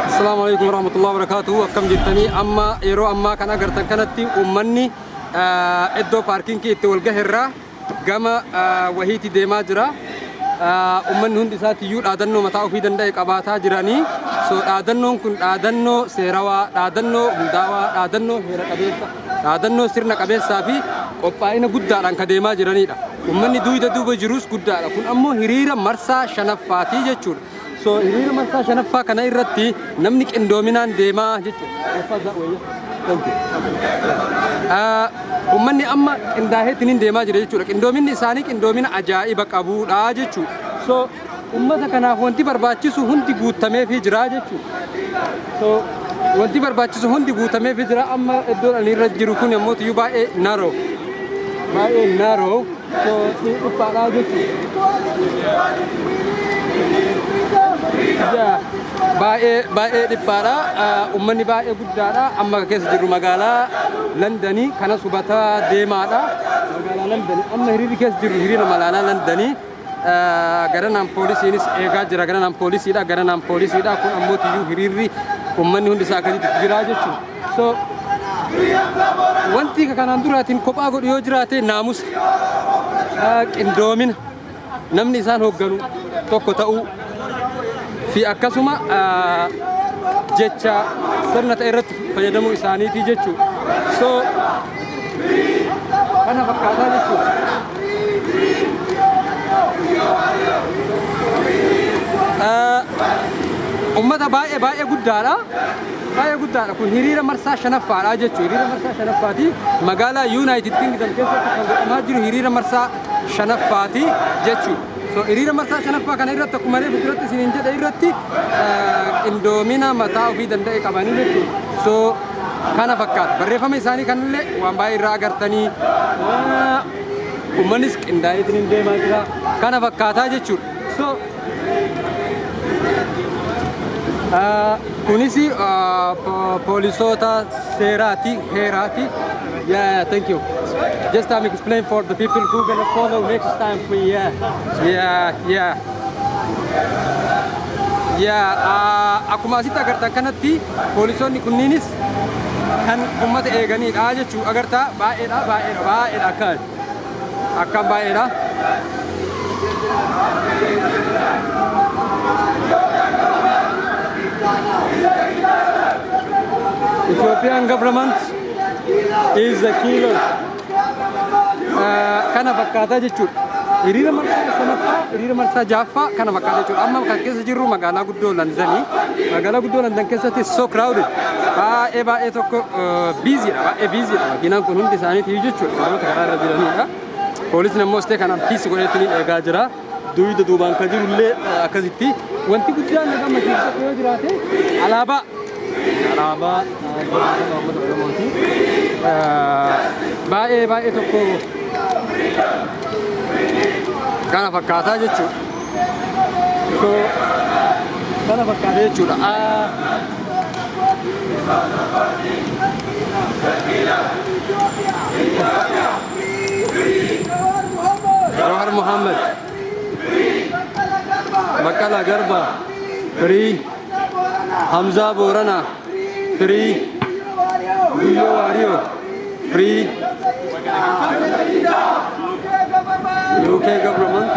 Assalamu alaikum warahmatullahi wabarakatuh. Akkam jirtanii amma yeroo ammaa kan agartan kanatti uummanni ah, iddoo paarkinkii itti wal gaherraa gama ah, wahiitti deemaa jira. Ah, Uummanni hundi isaatti iyyuu dhaadannoo mataa ofii danda'e qabaataa jiranii. So dhaadannoon kun dhaadannoo seerawaa, dhaadannoo hundaawaa, dhaadannoo heera qabeessa. dhaadannoo sirna qabeessaa fi qophaa'ina guddaadhaan ka deemaa jiranidha. Ummanni duuyda duuba jirus guddaadha. Kun ammoo hiriira marsaa shanaffaati jechuudha. So hiriira marsaa shanaffaa kana irratti namni qindoominaan deemaa jechuudha. Ummanni amma qindaaheetiin deemaa jira jechuudha. Qindoominni isaanii qindoomina ajaa'iba qabuudha jechuudha. So Ummata kanaaf wanti barbaachisu hundi guuttameefii jira jechuudha. So, wanti barbaachisu hundi guutameefii jira. Amma iddoon ani irra jiru kun ammoo iyyuu baay'ee naroo. Baay'ee naroo. So, ni dhiphaadhaa jechuudha. Yaa, Baay'ee baay'ee dhiphaadha. Ah, Ummanni baay'ee guddaadha. Amma kan keessa jirru magaalaa Landanii kanas hubataa deemaadha. Magaalaa Landanii amma hiriirri keessa jirru hiriira magaalaa Landanii. Garanaan poolisiinis eegaa jira. Garanaan poolisiidha. Garanaan poolisiidha. Kun ammoo tiyyuu hiriirri uummanni hundi isaa akkasitti jira jechuudha. So wanti kanaan duraatiin kophaa godhu yoo jiraate naamusa qindoomina namni isaan hoogganu tokko ta'uu fi akkasuma jecha sirna ta'e irratti fayyadamuu isaaniitii jechuudha. So kana fakkaataa jechuudha. Uummata baay'ee baay'ee guddaadha. Baay'ee guddaadha kun hiriira marsaa shanaffaadha jechuudha. Hiriira marsaa shanaffaati magaalaa Yuunaayitid Kingdom keessatti kan godhamaa jiru hiriira marsaa shanaffaati jechuudha. So hiriira marsaa shanaffaa kana irratti akkuma reefu duratti isiniin jedhe irratti qindoomina mataa ofii danda'e qabanii jechuudha. So kana fakkaata. Barreeffama isaanii kanallee waan baay'ee irraa agartanii uummannis qindaa'ee isiniin deemaa jira. Kana fakkaataa jechuudha. So kunis poolisoota seeraati heeraati. Yeah, yeah, thank you. Just um, explain for the people who gonna follow next time. We yeah, yeah, yeah. Yeah, uh, akkuma asitti agartan kanatti poolisoonni kunniinis kan ummata eeganiidha jechuu agartaa baay'eedha baay'eedha baay'eedha akka Akkaan baay'eedha. Ethiopian government is the killer. Eh, Kana fakkaataa jechuudha. Hiriira marsaa shanaffaa, hiriira marsaa ja'affaa kana fakkaataa jechuudha. Amma kan keessa jirru magaalaa guddoo Landanii. Magaalaa guddoo Landan keessatti so crowded. Baay'ee baay'ee tokko biiziidha. Baay'ee biiziidha. Makiinaan kun hundi isaaniitii jechuudha. Namoota karaa irra jiranidha. Poolisni ammoo istee kanaan piisi godheetti ni eegaa jira. Duuba duubaan kan jiru illee akkasitti. Wanti guddaan na gammachiisu tokko yoo jiraate alaabaa. Alaabaa jiraatota uummata Oromooti. Baay'ee baay'ee tokko kana fakkaataa jechuudha. So, kana fakkaata jechuudha. Ah, Jawahar Muhammad, Baqqalaa Garbaa, Free. Hamzaa Booranaa Firii Guyyoo Waariyoo Firii UK government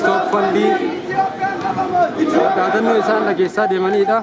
stop funding dhaadannoo isaan dhageessaa deemanidha.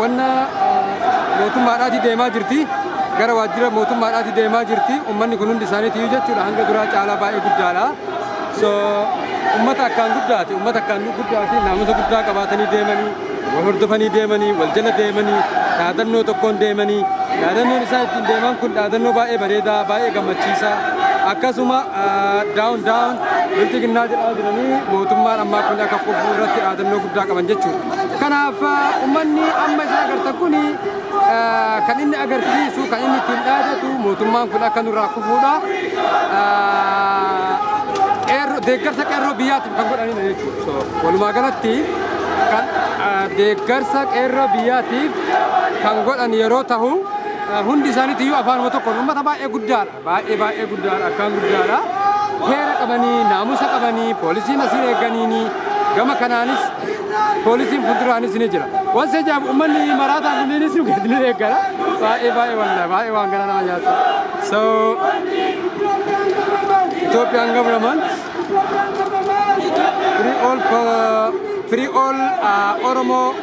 wanna mootummaadhaati deemaa jirti gara waajjira mootummaadhaati deemaa jirti ummanni kun hundi isaaniitiyyuu jechuudha hanga duraa caalaa baay'ee guddaadha so ummata akkaan guddaati ummata akkaan guddaati naamusa guddaa qabaatanii deemanii wal hordofanii deemanii wal jala deemanii dhaadannoo tokkoon deemanii dhaadannoon isaan ittiin deeman kun dhaadannoo baay'ee bareedaa baay'ee gammachiisaa akkasuma daawun daawun Bilxiginnaa jedhaa jiranii mootummaan ammaa kun akka kufuu irratti dhaadannoo guddaa qaban jechuudha. Kanaaf uummanni amma isin agartan kun kan inni agarsiisu kan inni ittiin dhaadatu mootummaan kun akka nurraa kufuudha. Deeggarsa qeerroo biyyaatiif kan godhanidha jechuudha. Walumaa galatti kan deeggarsa qeerroo biyyaatiif kan godhan yeroo tahu hundi isaaniitu iyyuu afaanuma tokkoon uummata baay'ee guddaadha. Baay'ee baay'ee guddaadha akkaan guddaadha. Heera qabanii naamusa qabanii poolisiin asiin eeganiini gama kanaanis poolisiin fuulduraanis ni jira. Waan seejaaf uummanni maraataa kunniinis nu geessinu eegala. Baay'ee baay'ee walla baay'ee waan gara nama nyaatu. So Ethiopian government free all uh, free all uh, Oromo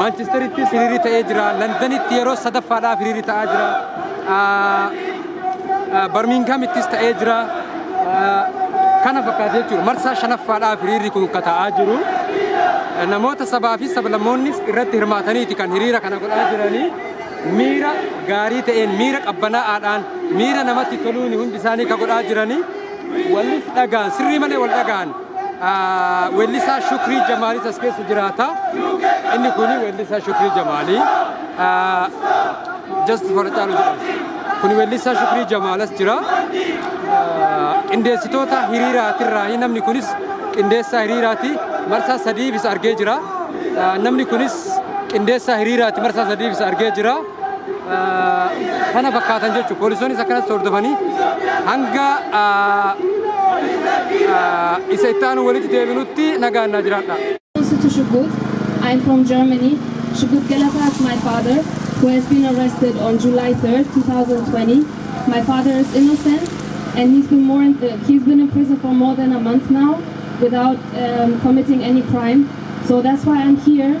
Maanchesterittis hiriirri ta'ee jira. Landanitti yeroo sadaffaadhaaf hiriirri ta'aa jira. Barmiinghamittis ta'ee jira. Kana fakkaata jechuudha. Marsaa shanaffaadhaaf hiriirri kun akka ta'aa jiru. Namoota sabaa fi sablammoonnis irratti hirmaataniiti kan hiriira kana godhaa jiranii. Miira gaarii ta'een, miira qabbanaa'aadhaan, miira namatti toluun hundi isaanii kan godhaa jiranii. Walis dhagaan, sirrii malee wal dhagaan. Weellisaa Shukrii Jamaalis as keessa jiraata. Inni kun weellisaa Shukrii Jamaalii. Just Fara Caalu jedhama. Kun weellisaa Shukrii Jamaal as jira. Qindeessitoota hiriiraatirraayi namni kunis qindeessaa hiriiraati. Marsaa sadiif isa argee jira. Namni kunis qindeessaa hiriiraati marsaa sadiif isa argee jira. kana fakkaatan jechuudha. Poolisoonnis akkanatti hordofanii hanga isa itti aanu walitti deebinutti nagaan naa jiraadha. Also to Shugut, I'm from Germany. Shugut Galata is my father, who has been arrested on July 3rd, 2020. My father is innocent, and he's been more in, uh, he's been in prison for more than a month now, without um, committing any crime. So that's why I'm here